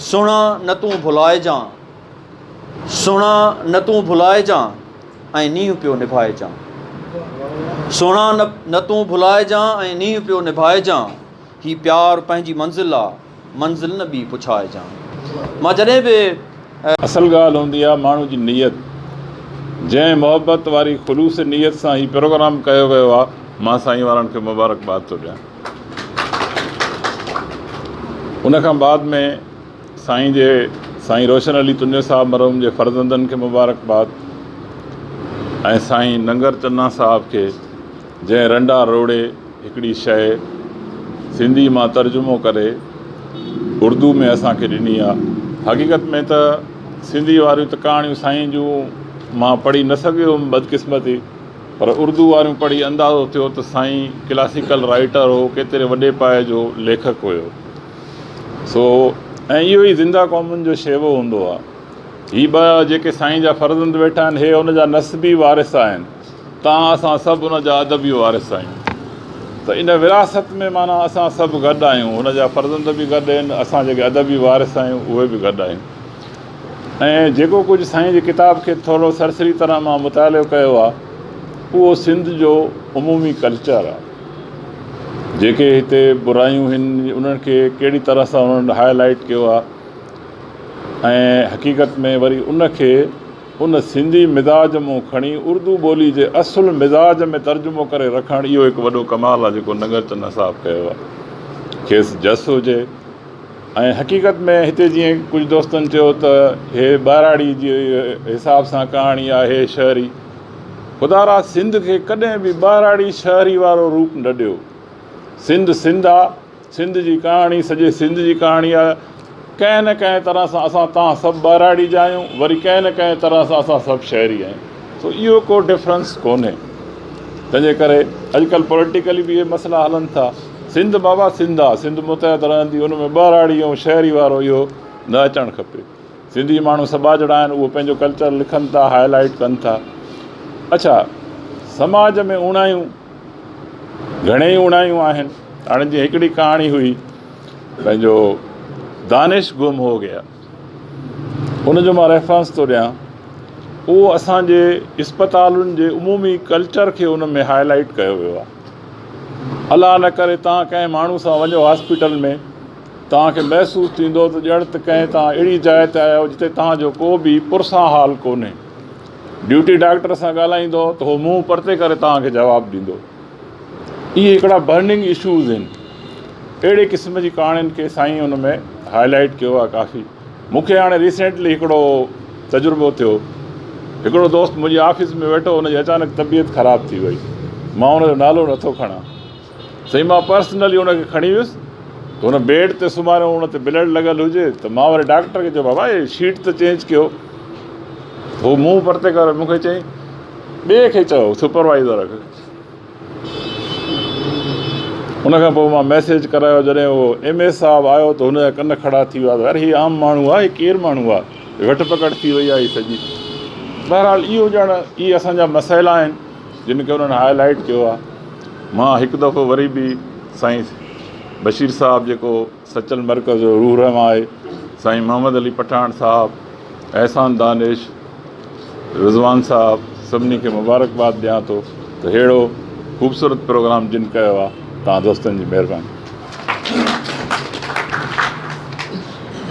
سهڻا نه تون ڀلائجان، سهڻا نه تون ڀلائجان ۽ نينهن پيو نڀائجان. سهڻا نه تون ڀلائجان ۽ نينهن پيو نڀائجان، هي پيار پنهنجي منزل آ، منزل نه ٻي پڇائجان. مان جڏهن به. اصل ڳالهه هوندي آ ماڻهو جي نيت جنهن محبت واري خلوص نيت سان هي پروگرام ڪيو ويو آ مان سائين وارن کي مبارڪباد ٿو ڏيان. ان کان بعد ۾ سائين جي سائين روشن علي تنيو صاحب مرحوم جي فرزندن کي مبارڪ باد ۽ سائين ننگر چنا صاحب کي جنهن رنڊا روڙي هڪڙي شئي سنڌي مان ترجمو ڪري اردو ۾ اسان کي ڏني آ حقيقت ۾ ته سنڌي واريون ته ڪهاڻيون سائين جون مان پڙهي نه سگهيو هيم بدقسمتي پر اردو واريون پڙهي اندازو ٿيو ته سائين ڪلاسيڪل رائيٽر هو، ڪيتري وڏي پايي جو ليکڪ هيو. سو ۽ اهو ئي زنده قومن جو شيوو هوندو آ. هي ٻه جيڪي سائين جا فرزند ويٺا آهن، هي ان جا نسبي وارث آهن. تان اسان سڀ ان جا ادبي وارث آهيون. ته ان وراثت ۾ معنيٰ اسان سڀ گڏ آهيون. هن جا فرزند به گڏ آهن، اسان جيڪي ادبي وارث آهيون، اهي به گڏ آهيون. ۽ جيڪو ڪجهه سائين جي ڪتاب کي ٿورو سرسري طرح مان مطالعو ڪيو آ اهو سنڌ جو عمومي ڪلچر آ جيڪي هتي برايون هن انهن کي ڪهڙي طرح سان انهن هاء لائيٽ ڪيو آ ۽ حقيقت ۾ وري ان کي ان سنڌي مزاج مون کڻي اردو ٻولي جي اصل مزاج ۾ ترجمو ڪري رکڻ اهو هڪ وڏو ڪمال آ جيڪو ننگر چنا صاحب ڪيو آ کيس جس هجي ۽ حقيقت ۾ هتي جيئن ڪجهه دوستن چيو ته هي ٻهراڙي جي حساب سان ڪهاڻي آهي شهري خدا را سنڌ کي ڪڏهن به ٻهراڙي شهري وارو روپ نه ڏيو سنڌ سنڌ آ سنڌ جي ڪهاڻي سڄي سنڌ جي ڪهاڻي آ ڪنهن نه ڪنهن طرح سان اسان تان سڀ ٻهراڙي جا آهيون وري ڪنهن نه ڪنهن طرح سان اسان سڀ شهري آهيون سو اهو ڪو ڊفرنس ڪونهي تنهنجي ڪري اڄڪلهه پوليٽيڪلي به اهي مسئلا هلن ٿا سنڌ بابا سنڌ آ سنڌ متحد رهندي ان ۾ ٻهراڙي ۽ شهري وارو اهو نه اچڻ کپي سنڌي ماڻهو سٻاجهڙا آهن اهو پنهنجو ڪلچر لکن ٿا هاء لائيٽ ڪن ٿا اڇا سماج ۾ اوڻايون گهڻي ئي اوڻايون آهن هاڻي جيئن هڪڙي ڪهاڻي هئي پنهنجو دانش گم هو گيا ان جو مان ريفرنس ٿو ڏيان اهو اسان جي اسپتالن جي عمومي ڪلچر کي ان ۾ هاء لائيٽ ڪيو ويو آهي الله نه ڪري توهان ڪنهن ماڻهو سان وڃو هاسپيٽل ۾، توهان کي محسوس ٿيندو ته ڄڻ ته ڪنهن توهان اهڙي جاء تي آيا آهيو جتي توهان جو ڪو به پرسان حال ڪونهي. ڊيوٽي ڊاڪٽر سان ڳالهائيندو ته هو منهن پرتي ڪري توهان کي جواب ڏيندو. اهي هڪڙا برننگ اشوز آهن. اهڙي قسم جي ڪهاڻين کي سائين ان ۾ هائلائيٽ ڪيو آهي ڪافي. مون کي هاڻي ريسينٽلي هڪڙو تجربو ٿيو هڪڙو دوست منهنجي آفيس ۾ ويٺو هن جي اچانڪ طبيعت خراب ٿي وئي مان هن جو نالو نه ٿو کڻان سائين مان پرسنلي هن کي کڻي ويس ته هن بيڊ تي سمهاريو هن تي بلڊ لڳل هجي ته مان وري ڊاڪٽر کي چيو بابا هي شيٽ ته چينج ڪيو هو منهن پرتي ڪري مون کي چيائين ٻئي کي چئو سپروائيزر کي ان کان پوء مان ميسيج ڪرايو جڏهن اهو ايم اي صاحب آيو ته هن جا ڪن کڙا ٿي ويا ته يار هي عام ماڻهو آهي هي ڪير ماڻهو آهي جو ويٺ پڪڙ ٿي وئي آهي هي سڄي بهرحال اهو ڄڻ اهي اسان جا مسئلا آهن جن کي انهن هاء لائيٽ ڪيو آهي مان هڪ دفعو وري به سائين بشير صاحب جيڪو سچل مرڪز جو روح رحمان آهي سائين محمد علي پٺاڻ صاحب احسان دانش رضوان صاحب سڀني کي مبارڪباد ڏيان ٿو ته ههڙو خوبصورت پروگرام جن ڪيو آهي تان دوستن جي مهرباني